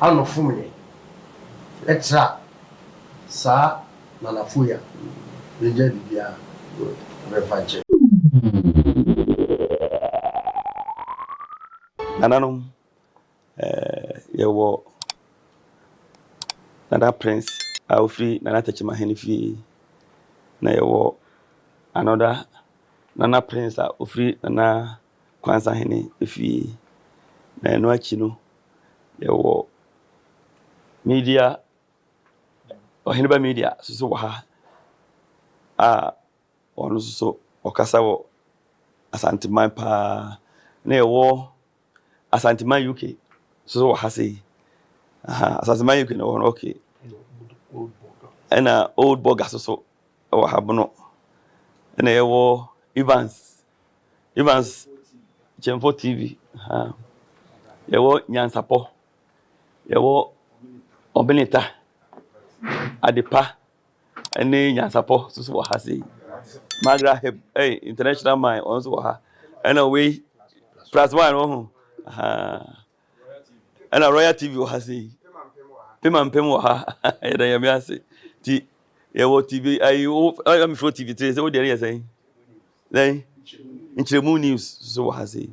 Ano fom yɛ. Ɛtra saa na na foya no gya bibia bɛfa nkyɛ. Nananom eh yɛ wɔ Nana Prince a ofiri Nana Tekyima Hene fie na yɛ wɔ another Nana Prince a ofiri Nana kwansahene fie, na ɛno akyi no, yɛwɔ Media, Ɔheneba Media nso wɔ ha a ɔno nso so ɔkasa wɔ Asanteman paa, na yɛwɔ Asanteman UK nso wɔ ha sei. Aha, Asanteman UK na wɔ hɔ no, okay. Ɛna Old Boga nso so wɔ ha bono, ɛna yɛwɔ Evans Evans Kyɛmfo TV, ha. Yɛwɔ Nyansapɔ. Yɛwɔ Ɔbeneta, Adepa, ne Nyansapɔ nso so wɔ ha sei. Magra Heb, hey, International Mine, ɔno nso wɔ ha. Ɛna wei, plus one wɔ ho. Aha. ɛna royal tv wɔ ha sei pema mpem wɔ ha yɛda nyame ase ti yɛwɔ tv ayi wo ɛna mefrɛ tv tiri sɛ wodeɛ no yɛ sɛn dɛn nkyerɛmu news so wɔ ha sei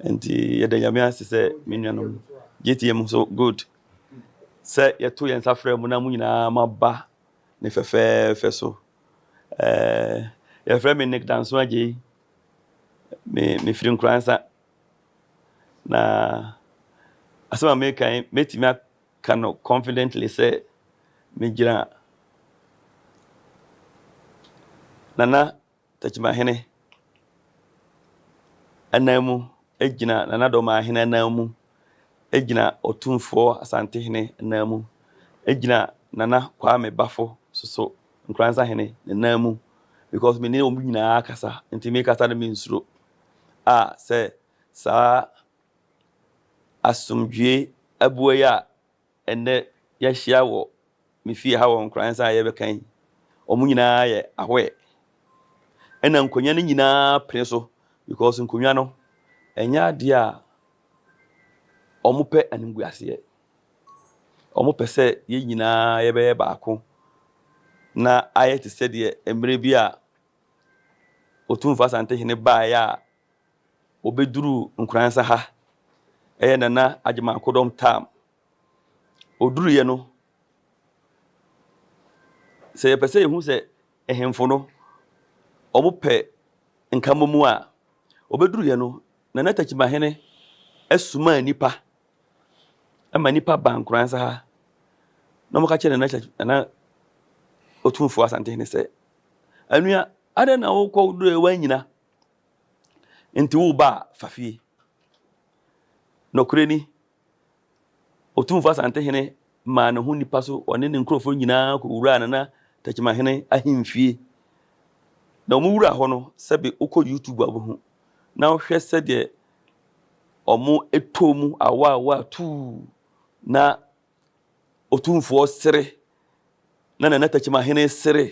nti yɛda nyame ase sɛ me nuanom gyetiam so good sɛ yɛto yɛn nsa frɛ mu na mo nyinaa maba ne fɛfɛɛfɛ so ɛɛ yɛfrɛ me nick danso agyei me mefiri nkuransa Na asɛm a meka yi, mɛtumi aka no confidently sɛ megyina Nana Takyimahene anan mu, gyina Nana Dɔmahene anan mu, gyina Ɔtumfoɔ Asantehene anan mu, gyina Nana Kwame Bafo soso Nkoransahene ne nan mu because mene wɔn nyinaa kasa, nti mekasa no mensuro. a sɛ saa asomdwoe abua yi a ɛnnɛ yɛahyia wɔ me fie ha wɔ nkoransa a yɛrebɛka yi, wɔn nyinaa yɛ ahoɛ. Ɛna nkonnwa no nyinaa pene so because nkonnwa no ɛnyɛ adeɛ a wɔpɛ animguaseɛ. Wɔpɛ sɛ yɛn nyinaa yɛbɛyɛ baako na ayɛ te sɛ deɛ mmerɛ bi a Otumfo Asantehene baeɛ a ɔbɛduruu Nkoransa ha, ɛyɛ Nana Agyeman-Akodɔm term. Ɔduruiɛ no, sɛ yɛpɛ sɛ yɛhu sɛ ahemfo no wɔpɛ nkammɔmu a, ɔbɛduruiɛ no, Nana Takyimahene somaa nnipa ma nnipa baa Nkoransa ha na wɔka kyerɛɛ Nana Otumfo Asantehene sɛ Anua, adɛn na wokɔ wo duro a woannyina nti wo ba a fa fie. Nokorɛ ni, Otumfoɔ Asantehene maa ne ho nnipa so, ɔne ne nkurɔfoɔ nyinaa kɔwuraa Nana Takyimahene ahemfie. Na wɔwura hɔ no, sɛbe wokɔ YouTube a wobɛhu na wohwɛ sɛdeɛ wɔtoo mu awaawa tuu na Otumfoɔ sere, na ne tɛkyemahene sere,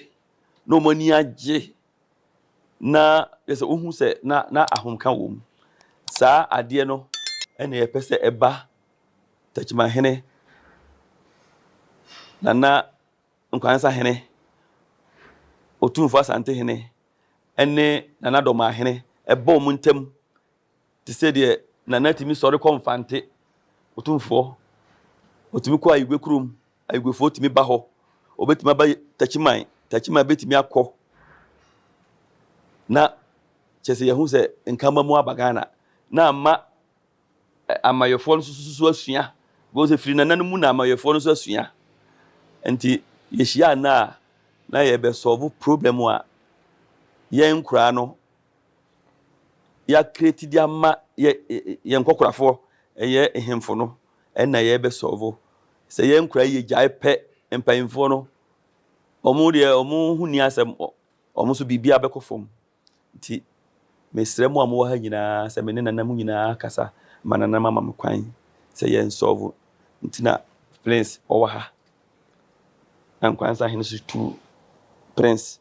na wɔn ani agye, na yɛ sɛ wohu sɛ na na ahomka wom. Saa adeɛ no na yɛpɛ sɛ ɛba tɛkyemahene, Nana Nkwansa hene, Otumfoɔ Asantehene, ne Nana Dɔmahene ɛba wɔn ntam Te sɛ deɛ Nana tumi sɔre kɔ Mfante, Otumfoɔ, ɔtumi kɔ Ayigwe kurom, Ayigwefoɔ tumi ba hɔ, ɔbɛtumi aba Takyiman, Takyiman bɛtumi akɔ na kyerɛ sɛ yɛhu sɛ nkamba mu aba Ghana na ama amayɛfoɔ no nso asua because ɛfiri Nana no mu na amayɛfoɔ no nso asua nti yɛhyia nna a na yɛbɛsɔlvo problem a yɛn nkuraa no yɛacreate de ama yɛ yɛn nkɔkorafoɔ ɛyɛ nhemfo no ɛna yɛbɛsɔɔvo sɛ yɛn nkora yi yɛgyae pɛ mpanyinfoɔ no wɔn deɛ wɔn ho ni asɛm wɔn nso biribi abɛkɔ fam nti mesrɛ mu a mowɔ ha nyinaa sɛ me ne nana mu nyinaa kasa ma nana mama me kwan sɛ yɛn sɔɔvo nti na prince ɔwɔ ha na nkwansa hene so tu prince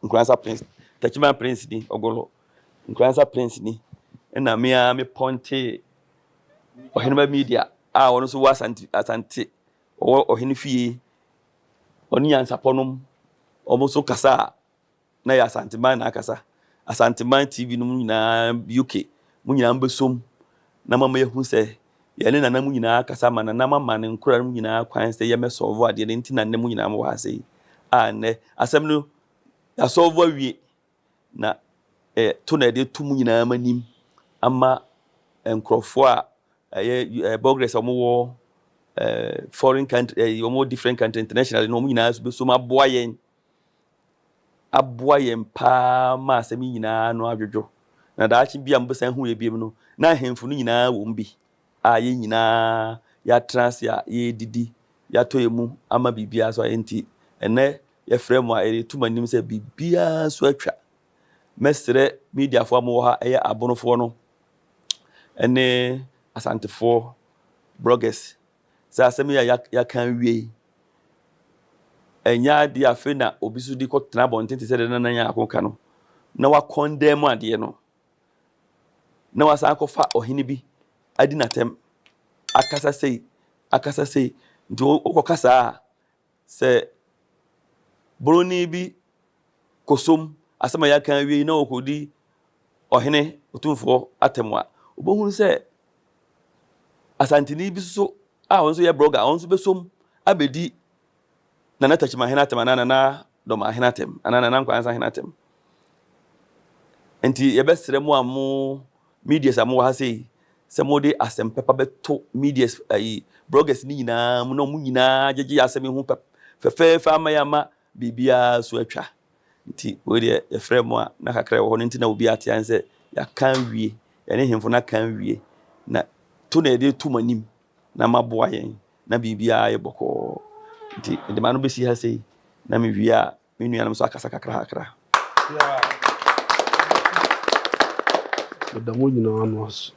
Nkoransa Prince, Takyiman Prince ni, Ogolo, Nkoransa Prince ni, ɛna me ara me pɔntee Ɔheneba Media a ɔno nso wɔ Asante, Asante ɔwɔ ɔhene fie, ɔne nyansapɔ nom, wɔn nso kasa a na yɛ Asanteman na akasa, Asanteman TV nom nyinaa, UK, mo nyinaa mbɛsom na moama yɛahu sɛ yɛne nana mo nyinaa kasa ma nana moama ne nkora no nyinaa kwan sɛ yɛmɛ sɔlvo adeɛ no nti na nnɛ mo nyinaa mowɔ ha sɛi a nnɛ asɛm no yɛasɔlvo awie na eh, to na yɛde to mo nyinaa ma nim ama nkurɔfoɔ a ɛyɛ eh, bɔgrɛs a wɔwɔ eh, foreign country eh, wɔwɔ different country internationally no wɔn nyinaa so bɛsom aboa yɛn aboa yɛn paa ma asɛm yi nyinaa ano adwodwo, na daakye bi a mubesan ahu yɛn bio no, na ahemfo no nyinaa wom bi, a yɛn nyinaa yɛatra ase a yɛredidi, yɛatɔ yɛn mu ama biribiara so a enti ɛnnɛ yɛfrɛ mo a yɛreto mo anim sɛ biribiara so atwa. Mɛsrɛ mediafoɔ a mowɔ ha, ɛyɛ Abonofoɔ no ne Asantefoɔ bloggers sɛ asɛm yi a yɛaka awie yi ɛnyɛ adeɛ afei na obi so de kɔtena abɔnten te sɛ deɛ nana yɛn ako ka no na wakɔn dan mu adeɛ no na wasan akɔfa ɔhene bi adi n'atɛm akasa sei akasa sei nti wokɔka saa a Sɛ boroni bi kɔsom asɛm a yɛaka awie yi na ɔkɔdi ɔhene otumfoɔ atɛm a, wobɛhunu sɛ Asanteni bi nso a ɔno nso yɛ brɔga, ɔno nso bɛsom abɛdi Nana Takyimahene atɛm anaa Nana Dɔmahene atɛm anaa Nana Nkwansa Hene atɛm. Nti yɛbɛsrɛ mo a mo Medias a mowɔ ha sei, sɛ mode asɛm pɛpa bɛto medias ayi, bloggers no nyinaa mu na wɔn nyinaa gyegye asɛm yi ho pɛp, fɛfɛɛfɛ ama yɛama biribiara so atwa. Nti wei deɛ yɛfrɛ mo a na kakra ɛwɔ hɔ no nti na obi ate an sɛ yɛaka awie, yɛne hemfo no aka awie, na to na yɛde to mo anim na maboa yɛn na biribiara ayɛ bɔkɔɔ. Nti mede m'ano bɛsi ha sei na mewie a Me nuanom nso akasa kakrakra. Meda mo nyinaa ano ase.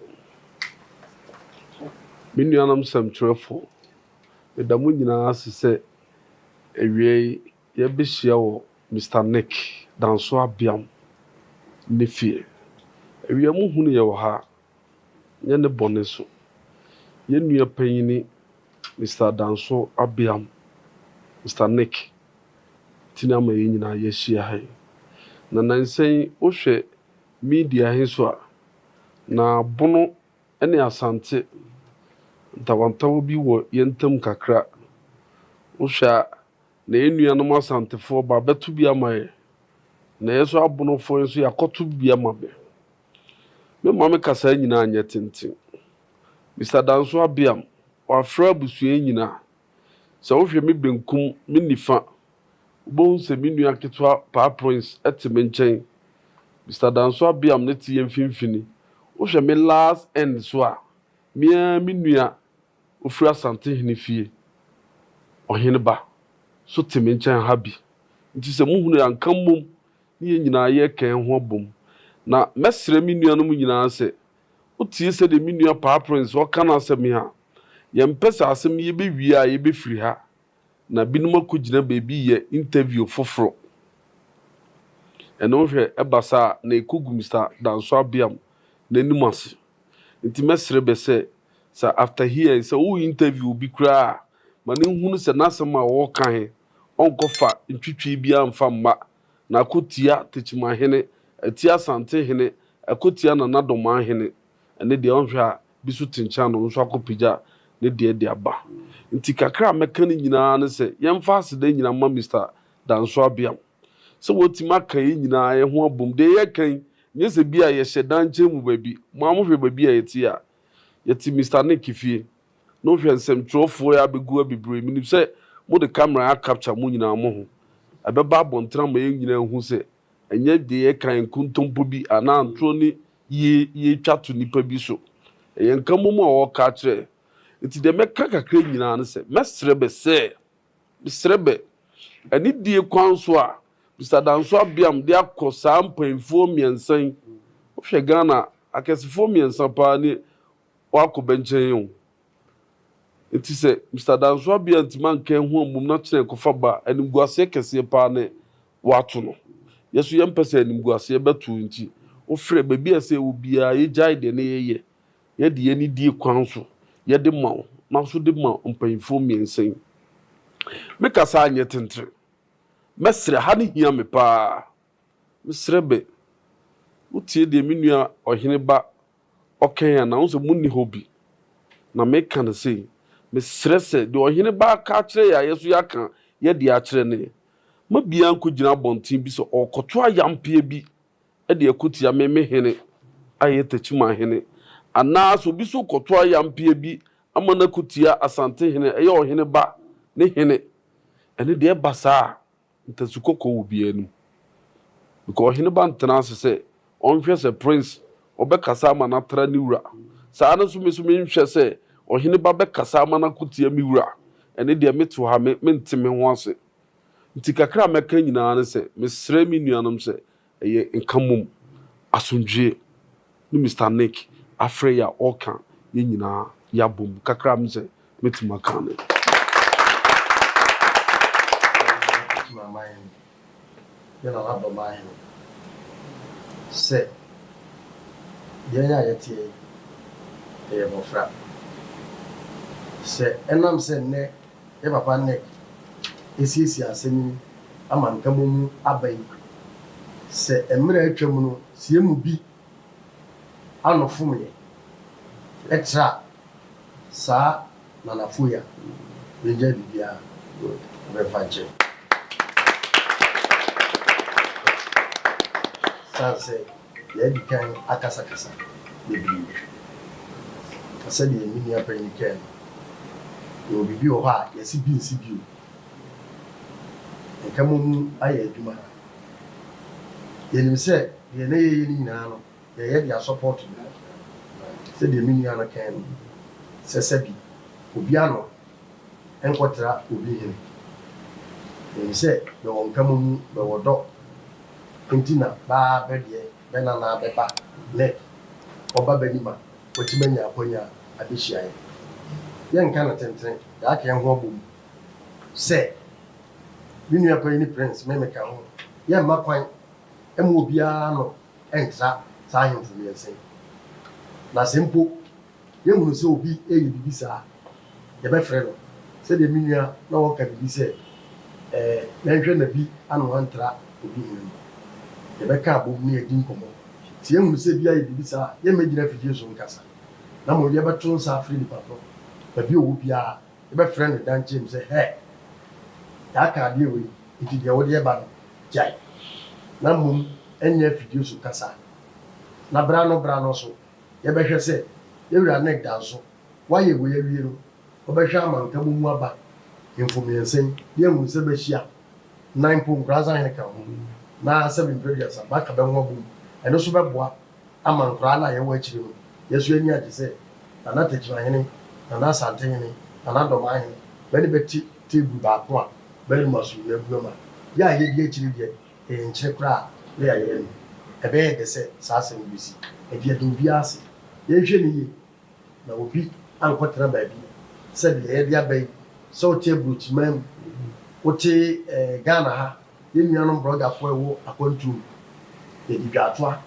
Me nuanom sɛmtwerɛfo, meda mo nyinaa ase sɛ awia yi yɛabɛhyia wɔ Mister Nick Danso Abiam ne fie. Awia mu hunu yɛ wɔ ha nyɛ ne bɔne so. Yɛn nua panyin Mister Danso Abeam, Mister Nick, ti na ama yɛn nyinaa yɛahyia ha yi. Na nnansa yi wohwɛ media he so a, na Bono ne Asante ntawantawa bi wɔ yɛn ntam kakra. Wohwɛ a, na yɛn nuanom Asantefoɔ bɛabɛto bi ama yɛ, na yɛ nso Abonofoɔ yi nso yɛakɔto bi ama bɛ. Me maame kasaa nyinaa nyɛ tenten. Mister Danso Abiam, wɔafrɛ abusua yi nyinaa. Sɛ wohwɛ me benkum, me nifa, wubehu sɛ me nua ketewa Paa Prince te me nkyɛn. Mister Danso Abiam no te yɛn mfimfini. Wohwɛ me last end nso a, me ara me nua ofiri Asantehene fie, Ɔheneba, nso te me nkyɛn ha bi. Nti sɛ muhunu a, nka mmom ne yɛn nyinaa yɛka yɛn ho abom. Na mɛsrɛ me nuanom nyinaa sɛ, wotie sɛdeɛ me nua Paa Prince ɔreka n'asɛm yi a, yɛmpɛ sɛ asɛm yi yɛbɛwie a yɛbɛfiri ha na binom akɔgyina baabi reyɛ interview foforɔ. Ɛno hwɛ, ɛba saa a, na ɛkɔgu Mister Danso Abeam n'anim ase. Nti mɛsrɛ bɛ sɛ, sɛ after here sɛ wo interview obi koraa a, ma no nhunu sɛ n'asɛm a ɔreka he, ɔnkɔfa ntwitwi biaa mfa mma na ko tia Tekyima hene, atia Asante hene, ɛko tia Nana Domaa hene, ɛne deɛ ɔnhwɛ a bi so te nkyɛn a na ɔno nso akɔ pagya ne deɛ de aba. Nti kakra a mɛka ne nyinaa ne sɛ yɛmfa aseda nyina mma Mister Danso Abiam sɛ watumi aka yɛn nyinaa yɛho abom. Deɛ yɛka yi nyɛ sɛ bi a yɛhyɛ da nkyɛn mu baabi, mo ara mohwɛ baabi a yɛte yi a, Yɛte Mister Nick fie. Na wohwɛ nsɛmtwerɛfoɔ yi abɛgu abibire. Menim sɛ mode camera a capture mo nyinaa mo ho. Ɛbɛba abɔnten ama yɛn nyinaa ahu sɛ ɛnyɛ deɛ yɛkan nkontompo bi anaa ntorɔ ne yie yɛretwa to nnipa bi so. Ɛyɛ nka mmom a wɔreka akyerɛ yɛn. Nti deɛ mɛka kakra nyinaa ne sɛ mɛsrɛ bɛ sɛ. Mesrɛ bɛ, anidie kwan so a, Mister Danso Abiam de akɔ saa mpainfoɔ mmiɛnsa yi, wohwɛ Ghana akɛsefoɔ mmiɛnsa paa ni wɔakɔ bɛ nkyɛn o. Nti sɛ Mister Danso Abiam antumi anka ɛho ammom na kyena ɛkɔfa ba a, animguaseɛ kɛseɛ paa ne wɔato no. Yɛ nso yɛmpɛ sɛ animguaseɛ bɛto nti, wofrɛ baabi a ɛsɛ yɛwɔ biara yɛgyae deɛ ne yɛyɛ Yɛde yɛn anidie kwan so yɛde ma wo na nso de ma mpaninfoɔ mmiɛnsa yi. Me kasa anyɛ tentere. Mɛsrɛ, ha no hia me pa ara. Mesrɛ bɛ. Wo tie deɛ me nua ɔhene ba ɔka yi anaa? Wohu sɛ monni hɔ bi. Na me ka no sei. Mesrɛ sɛ deɛ ɔhene ba aka akyerɛ yɛn a yɛn nso yɛaka yɛdeɛ akyerɛ no yɛ. Ma biara nkɔgyina abɔnten bi sɛ ɔrekɔto ayampeɛ bi de ako tia Memehene a ɛyɛ Takyimanhene, anaa sɛ obi nso rekɔto ayampeɛ bi ama no ako tia Asantehene a ɛyɛ ɔhene ba ne hene, ɛno deɛ ɛba saa a, ntasu kɔkɔɔ wɔ obiara anim. Because ɔhene ba ntena ase sɛ ɔnhwɛ sɛ Prince ɔbɛkasa ama no atra ne wura. Saa ara nso me nso menhwɛ sɛ ɔhene ba bɛkasa ama no ako tia me wura. Ɛno deɛ mete hɔ a, me, mente me ho ase. Nti kakra a mɛka nyinaa ne sɛ, mesrɛ me nuanom sɛ, Ɛyɛ nka mmom asomdwoeɛ ne Mister Nick afrɛ yi a ɔreka yɛn nyinaa yɛabom kakra a me sɛ mɛtumi aka no. Ɔtumi ama yɛn ne Nanadɔm ahene sɛ yɛn a yɛteɛ yi yɛyɛ mmɔfra. Sɛ ɛnam sɛ nnɛ ne papa Nick asiesie asɛm yi ama nkammɔ mu aba yi, Sɛ mmerɛ a atwam no sɛ yɛn mu bi ano fom yɛn, ɛtra a, saa nanafo yi a, yɛngyae biribiara bɛmfa nkyɛ. Ɛsiane sɛ. Yɛadi kan akasakasa bebree, na sɛdeɛ me nua panin kae no, yɛwɔ biribi wɔ hɔ a yɛasi bi nsi bio. Nka moamu ayɛ adwuma ha. Yɛnim sɛ deɛ na yɛyɛ no nyinaa no, yɛyɛ de asɔpɔɔto no. Sɛdeɛ me nua no kae no, sɛ sɛbi, obi ano Nkɔtra obi hene. Nim sɛ bɛwɔ nkama mu bɛwɔ dɔ nti na baa bɛ deɛ bɛ na na bɛba nɛ ɔba bɛ nima wɔte bɛ nya akwanya abɛhyiaɛ yɛ nka no tentene yaaka yɛ ho abɔ mu sɛ me nua payi ne prince me me ka ho yɛ mma kwan mma obiara no ntra saa ahemfo miɛnsa yi na sɛ mpo yɛhunu sɛ obi reyɛ biribi saa a, yɛbɛfrɛ no. Sɛdeɛ me nua na ɔreka biribi sɛ, Ɛɛ, yɛnhwɛ na bi ano antra obi hene no. Yɛbɛka abom na yɛadi nkɔmmɔ. Sɛ yɛhunu sɛ bi ayɛ biribi saa a, yɛremmɛgyina afidie so nkasa, na mmom yɛbɛto nsa afrɛ nipa korɔ. Baabi a ɔwɔ biara, yɛbɛfrɛ no dankyem sɛ, Hɛ! Yɛaka adeɛ wei, enti deɛ wode reba no, gyae, na mmom nyɛ afidie so kasa, na berɛ ano berɛ ano nso, Yɛbɛhwɛ sɛ yɛn Wura Nick da nso wayɛ wei awie no, ɔbɛhwɛ ama ntamu mu aba mfo mmiɛnsa yi ne ahu sɛ bɛahyia, na mpo nkoransa hene ka ho, na sɛbe mprɛ aduasa bɛaka bɛho abom. Ɛno nso bɛboa ama nkoraa no a yɛwɔ akyire no, yɛn nso yɛn ani agye sɛ Nana Tegyina hene, Nana Asante hene, Nana Dɔmaa hene, bɛne bɛte table baako a bɛrema so nyinaa gu ama yɛn a yɛdi akyire deɛ. Ɛrenkyɛ koraa na yɛayɛ no. Ɛbɛyɛ dɛ sɛ saa asɛm yi besi. Enti yɛda obiara ase. Yɛnhwɛ no yiye na obi ankɔtena baabi sɛnea yɛde aba yi, sɛ wote aburokyiman mu, wote Ghana ha, yɛn nuanom borɔdafo a ɛwɔ akwantuo mu, yɛde dwaatoa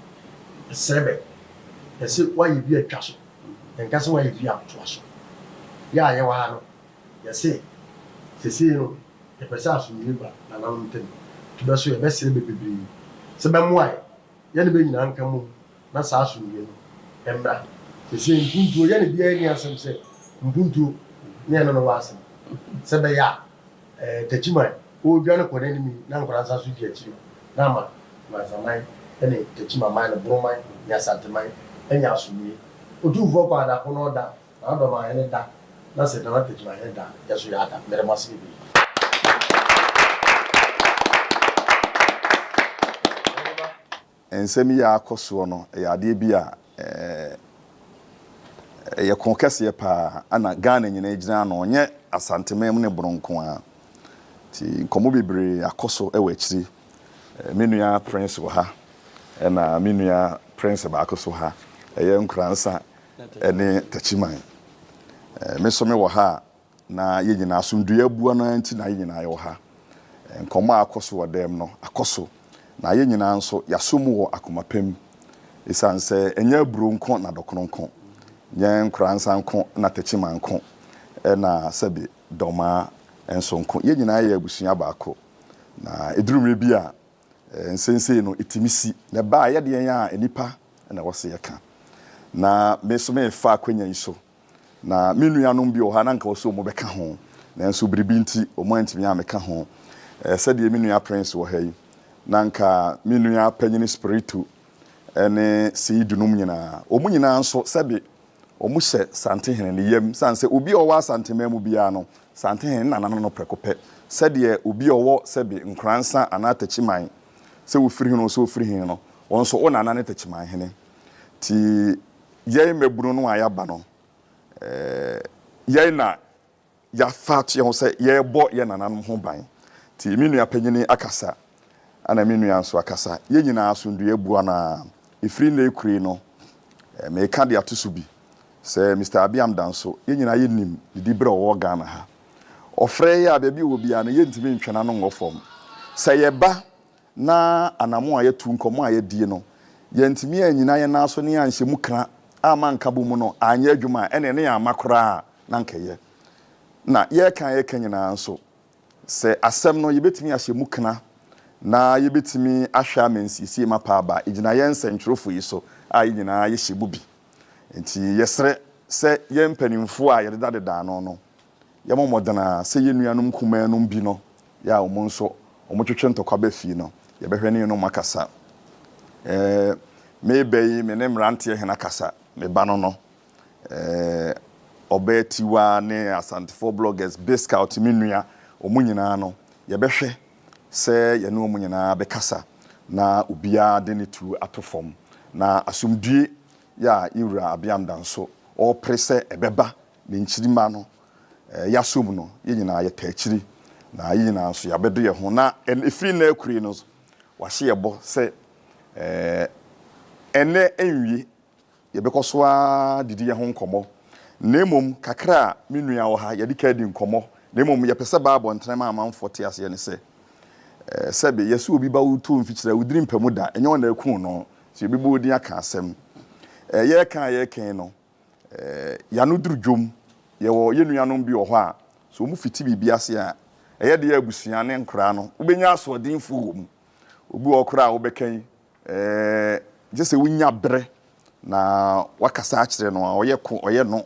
srɛ bɛ. Yɛse woayɛ bi a twa so. Yɛnka sɛ woayɛ bi a toa so. Yɛ a yɛwɔ ha no, Yɛse, Sesei no, yɛpɛ sɛ asomdwoe ba nananom ntam, to bɛ so, yɛbɛsrɛ bɛ bebree sɛ bɛmmoa yɛ, yɛne bɛ nyinaa nka mmom na saa asomdwoe no mmra. Sesei mpuntuo yɛ ne biara nni asɛm sɛ mpuntuo ne ɛno ne w'asɛm, sɛ ɛbɛyɛ a ɛɛ Takyiman ɔredwane kɔ n'anim yi na nkwadaa nsa so di akyire na ama Mansaman ne Takyimaman ne Boroman ne Asanteman anya asomdwoe. Otumfoɔ Kwaadako na ɔda Na Adam a hɛn da, na sɛ dɛm akedzi ma hɛn da a, yɛ so yɛada. Meda mo ase beberee. Nsɛm yi a akɔ soɔ no yɛ adeɛ bi a ɛyɛ ko kɛseɛ pa ara na Ghana nyinaa gyina ano, ɛnyɛ Asanteman mu ne Bono nko ara. Nti nkɔmmɔ bebree akɔ so wɔ akyiri. Me nua Prince wɔ ha, ɛna me nua Prince baako nso wɔ ha. Ɛyɛ Nkoransa ne Takyiman. Me nso mewɔ ha a na yɛn nyinaa asomdwoeɛ abua no ara nti na yɛn nyinaa yɛwɔ ha. Nkɔmmɔ a akɔ so wɔ dan mu no akɔ so, na yɛn nyinaa nso yɛasɔ mu wɔ akoma pa mu. Ɛsiane sɛ ɛnyɛ aburoo nko na dɔkono nko, nyɛ nkoransa nko na takyiman nko, ɛna sɛbe dɔmaa nso nko, yɛn nyinaa yɛ abusua baako. Na ɛduru mmerɛ bi a, Nsensei no, etumi si. Na ɛba a, ɛyɛ deɛn a nnipa na ɛwɔ sɛ yɛka? Na me nso merefa akwanya yi so, na me nuanom bi wɔ hɔ a na anka ɛwɔ sɛ wɔbɛka ho, nanso biribi nti wɔantumi ammɛka ho. Sɛdeɛ me nua Prince wɔ ha yi, na anka me nua panyin Spiritu ne Seidu nom nyinaa. Wɔn nyinaa nso, sɛbe Wɔhyɛ Santehene ne yam sane sɛ obi a ɔwɔ Asanteman mu biara no, Santehene na nano no prɛko pɛ, sɛdeɛ obi a ɔwɔ sɛbe Nkoransa anaa Takyiman, sɛ wofiri he no nso ofiri he no, wɔn nso wo nana ne Takyimanhene. Nti yɛn mmabunu no a yɛaba no, eh, yɛn na. yɛafa ato yɛn ho sɛ yɛrebɔ yɛn nananom ho ban. Nti me nua panyin akasa, ɛna me nua nso akasa. Yɛn nyinaa asomdwoeɛ boa no ara. Ɛfiri nnɛ ɛkure no, mereka de ato so bi sɛ Mister Abiam Danso, yɛn nyinaa yɛnim ne diberɛ a ɔwɔ Ghana ha. Ɔfrɛ yɛn a, baabi a ɔwɔ biara no, yɛntumi ntwe n'ano nngɔ fam. Sɛ yɛba. na anamon a yɛatu, nkɔmmɔ a yɛadie no, yɛantumi annyina yɛn nan so ne yɛanhyɛ mu kra amma anka bɔ mu no anyɛ adwuma a, ɛneɛ ne yɛamma koraa a na anka ɛyɛ. Na yɛreka a yɛreka nyinaa nso, sɛ asɛm no yɛbɛtumi ahyɛ mu kra na yɛbɛtumi ahwɛ ama nsiesie mapa aba a, ɛgyina yɛn nsɛntwerɛfoɔ yi so a yɛn nyinaa yɛhyɛ mu bi. Enti yɛsrɛ sɛ yɛn mpanimfoɔ a yɛdedadeda ano no, Yɛbɔ mmɔden ara sɛ yɛn nuanom nkumaa nom bi no yɛ a wɔn nso wɔtwetwe ntɔkwa ba fie no, yɛbɛhwɛ ne yenom akasa. Eh, me bɛ yi, me ne mmeranteɛ hena kasa? Me ba no no. Eh, Ɔbaa Tiwa ne Asantefoɔ bloggers Biscout, me nua, wɔn nyinaa no, yɛbɛhwɛ sɛ yɛne wɔn nyinaa bɛkasa na obiara de ne tuo ato fam. Na asomdwoe yi a Yɛn Wura Abeamda nso ɔrepere sɛ ɛbɛba Ne nkyirimma no, yɛasom no, yɛn nyinaa yɛtaa akyiri, na yɛn nyinaa nso yɛabɛdɔ yɛn ho. Na ɛfiri nnɛ akurei no, wahyɛ yɛn bɔ sɛ ɛnnɛ nwie, yɛbɛkɔ so ara didi yɛn ho nkɔmmɔ. Na mmom kakra a me nua wɔ ha, yɛde ka adi nkɔmmɔ. Na mmom yɛpɛ sɛ Bible ntɛm a amanfoɔ te aseɛ ne sɛ, sɛbe yɛse obi ba wo too mfikyire a, wodiri mpa mu da, ɛnyɛ wo na akum no, nti yɛbɛbɔ wo din aka asɛm. Yɛreka a yɛreka yi no, Ɛɛ, yɛano duru dwom. Yɛwɔ yɛn nuanom bi wɔ hɔ a, sɛ wɔfiti biribi ase a, ɛyɛ den a abusua ne nkwadaa no wobɛnya asoɔdenfoɔ wɔ mu. Obi wɔ hɔ koraa a wobɛka yi, ɛɛ, gye sɛ wonya berɛ na woakasa akyerɛ no a, ɔyɛ ko, ɔyɛ no,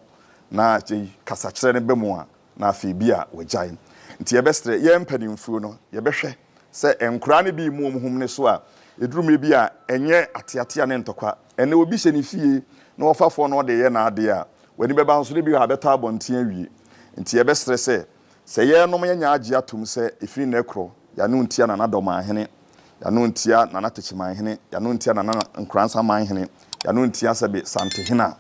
na akyire yi kasakyerɛ no ba mu a, na afei bi a wɔagyae. Nti yɛbɛsrɛ yɛn mpanimfuo no, yɛbɛhwɛ sɛ nkoraa no bi mmu wɔn ho mene so a, ɛduru mmerɛ bi a ɛnyɛ ateatea ne ntɔkwa. Ɛnnɛ obi hyɛ ne fie na ɔfa fɔɔ na ɔde reyɛ n'adeɛ a, w'ani bɛba nso na bi wɔ ha abɛtɔ abɔnten awie. Nti yɛbɛsrɛ sɛ, sɛ yɛrenom yɛnyɛ agye atom sɛ ɛfiri nnɛ korɔ, yɛano ntia Nana Dɔmanhene, yɛano ntia Nana Takyimanhene, yɛano ntia Nana Nkoransamanhene, yɛano ntia Sɛbe Santehene a.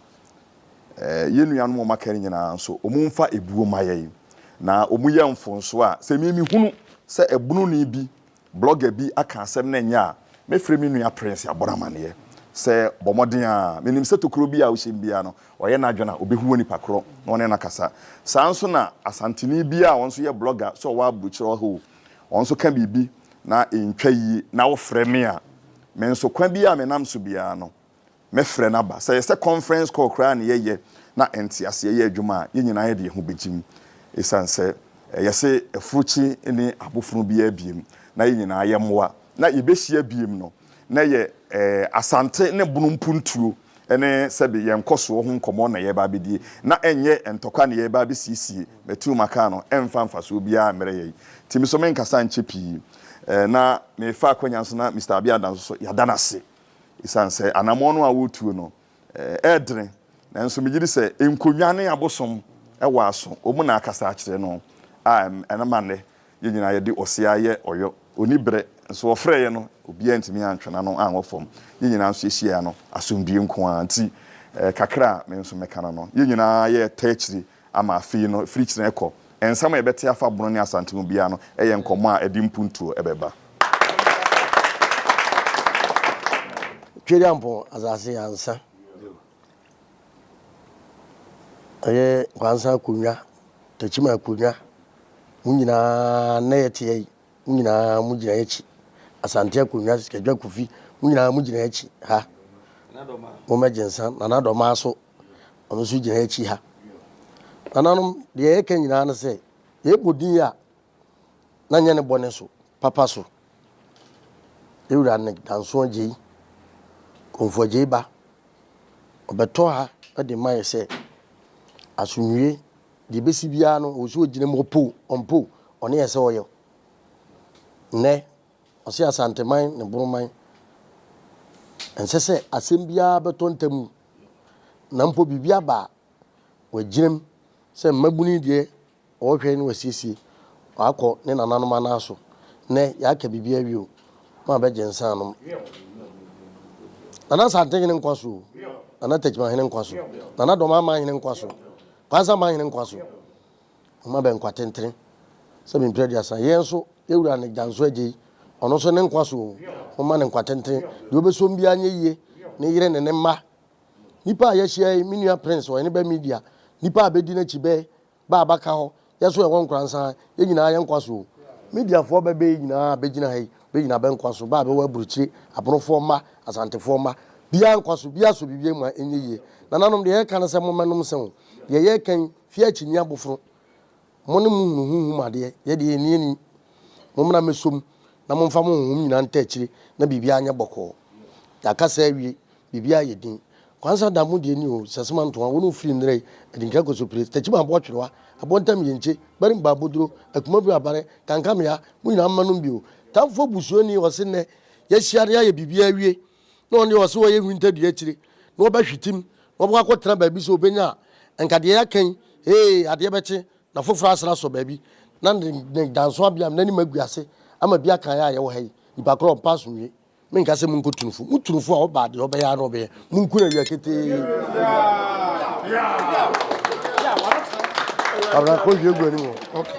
Yɛn nuanom a wɔaka no nyinaa nso, wɔmfa ebuo mma yɛn, na wɔyɛ mfomsoɔ a, sɛ me mehunu sɛ ɛbononi bi, blogger bi, aka asɛm na ɛnyɛ a, mɛfrɛ me nua Prince abɔ no amaneɛ sɛ, bɔ mmɔden ara, menim sɛ tokuro biara a wohyɛm biara no, ɔyɛ n'adwene a, ɔbɛhu onipa korɔ na ɔne no akasa. Saa ara nso na Asanteni bi a ɔno nso yɛ blogger, sɛ ɔwɔ aburokyerɛ hɔ o, ɔno nso ka biribi na ɛntwa yie na wofrɛ me a, me nso kwan biara a menam so biara no, Mɛfrɛ no aba. Sɛ ɛyɛ sɛ conference call koraa na yɛyɛ na nteaseɛ yɛ adwuma a, yɛn nyinaa yɛde yɛn ho bɛgye mu. Ɛsiane sɛ yɛse afuruukye nni abofono biara biem na yɛn nyinaa yɛ mmoa na yɛbɛhyia biem no, na ɛyɛ Asante ne Bono mpuntuo ne sɛbe yɛn nkɔsoɔ ho nkɔmmɔ na yɛreba abɛdie, na ɛnyɛ ntɔkwa na yɛreba abɛsiesie. Matuu m'aka no, ɛmfa mfasoɔ biara mmerɛ yɛn. Nti me nso menkasa nkyɛ pii. Na merefa akwanya no so na Mister Abiada nso so, yɛada no ase Esiane sɛ anammɔn no a wɔretuo no ɛɛdene, nanso megye di sɛ nkonnwa ne abosom wɔ aso, wɔn na akasa akyerɛ no a ɛna ma nnɛ yɛn nyinaa yɛde ɔsea yɛ ɔyɔ, ɔnni berɛ, nso wɔfrɛɛ yɛn no obiara antumi antwe n'ano anwɔ fam. Yɛn nyinaa nso yɛhyiaeɛ no asomdwoeɛ nko ara nti, kakra a me nso mɛka no no, yɛn nyinaa yɛɛtaa akyire Ama afei no, firi kyena rekɔ, nsɛm a yɛbɛte afa Bono ne Asante ho biara no yɛ nkɔmmɔ a ɛde mpuntuo bɛba. Tweduampɔn asase ansa ɛyɛ Nkwansa Akonwa, Takyima Akonwa, mo nyinaa nnɛ yɛteɛ yi, mo nyinaa mo gyina akyi. Asante Akonwa, Sikadwa Kofi, mo nyinaa mo gyina akyi ha. Mo mɛgye nsa, Nana Dɔmaa so ɔno nso gyina akyi ha. Nananom, deɛ yɛka nyinaa ne sɛ, yɛbɔ din a, na nyɛ ne bɔne so, papa so. Yɛwura ne Danso Agyei, Komfo Agyei ba, ɔbɛtɔ ha de ma yɛ sɛ asomdwie, deɛ bɛsi biara no, ɔwɔ sɛ ɔgyina mu, ɔpo, ɔmpo, ɔne yɛ sɛ ɔyɛ. Nnɛ, ɔse Asanteman ne Boroman, ɛnsɛ sɛ asɛm biara bɛtɔ ntamu. Na mpo biribi aba a, wagyina mu sɛ mmabunu yi deɛ ɔrehwɛ na wasiesie, wakɔ ne nananom anan so. Nnɛ, yɛaka biribi awie o, moabɛgye nsa anom. Nana Asantenhene nkwa so o, Nana Techimanhene nkwa so, Nana Dɔmamahene nkwa so, Kwanzaa Manhene nkwa so, Ɔma bɛ nkwa tenten sɛ me mpira aduasa. Yɛn nso, yɛ wura ne gya nso agye yi, ɔno nso ne nkwa so oo. Momma ne nkwa tenten. Deɛ ɔbɛsom biara nyɛ yie, ne yere ne ne mma. Nnipa a yɛahyia yi, me nua Prince, ɔyɛ ne bɛ media. Nnipa a bɛdi n'akyi, bɛ bɛ a bɛaka hɔ, yɛ nso yɛwɔ nkora nsa, yɛ nyinaa yɛ nkwa so oo. Mediafoɔ bɛ bɛ yi nyinaa a bɛgyina ha yi, bɛ nyinaa bɛ nkwa so, bɛ a bɛwɔ aburokyire, abonofoɔ mma, asantefoɔ mma, biara nkwa so, biara sɔ biribi mu a ɛnyɛ yie. Nananom, deɛ yɛreka ne sɛ mommɛnom nsã oo. Deɛ yɛreka yi, Fie akyinnye aboforo, mo ne mo hunu honhom adeɛ, yɛ deɛ ɛnni ani. Mommra mmɛsɔ mu, na momfa mo honhom nyinaa ntaa akyire, na biribiara nyɛ bɔkɔɔ. Yɛaka saa awie, biribiara ayɛ din. Kwansa da mo deɛ ni oo, sɛsem antoa, wo ne wo firi nnɛrɛ yi, adinkra kɔso pire, stakyiba aboɔ twerewa, aboɔ ntam yɛnkye, bɛre mba aboduro, akumabire abare, kankamea, mo nyinaa mma nom bi oo. Tamfoɔ busuani ɔse nnɛ, yɛahyia na yɛayɛ biribiara awie, na ɔno deɛ ɔse ɔyɛ winter dua akyire na ɔbɛhwetem na ɔbɛkɔ akɔtena baabi sɛ ɔbɛnya a nka deɛ yɛaka yi hee adeɛ bɛkye na foforɔ asane asɔ baabi na ne danso abeam n'anim agu ase ama bi aka yɛ a yɛwɔ ha yi nipa korɔ ɔmpa so nwie menka sɛ monkɔ tunufo mo tunufo a ɔbaa deɛ ɔbɛyɛ a na ɔbɛyɛ monku no awia ketee abena kɔ hwie gu anim okay.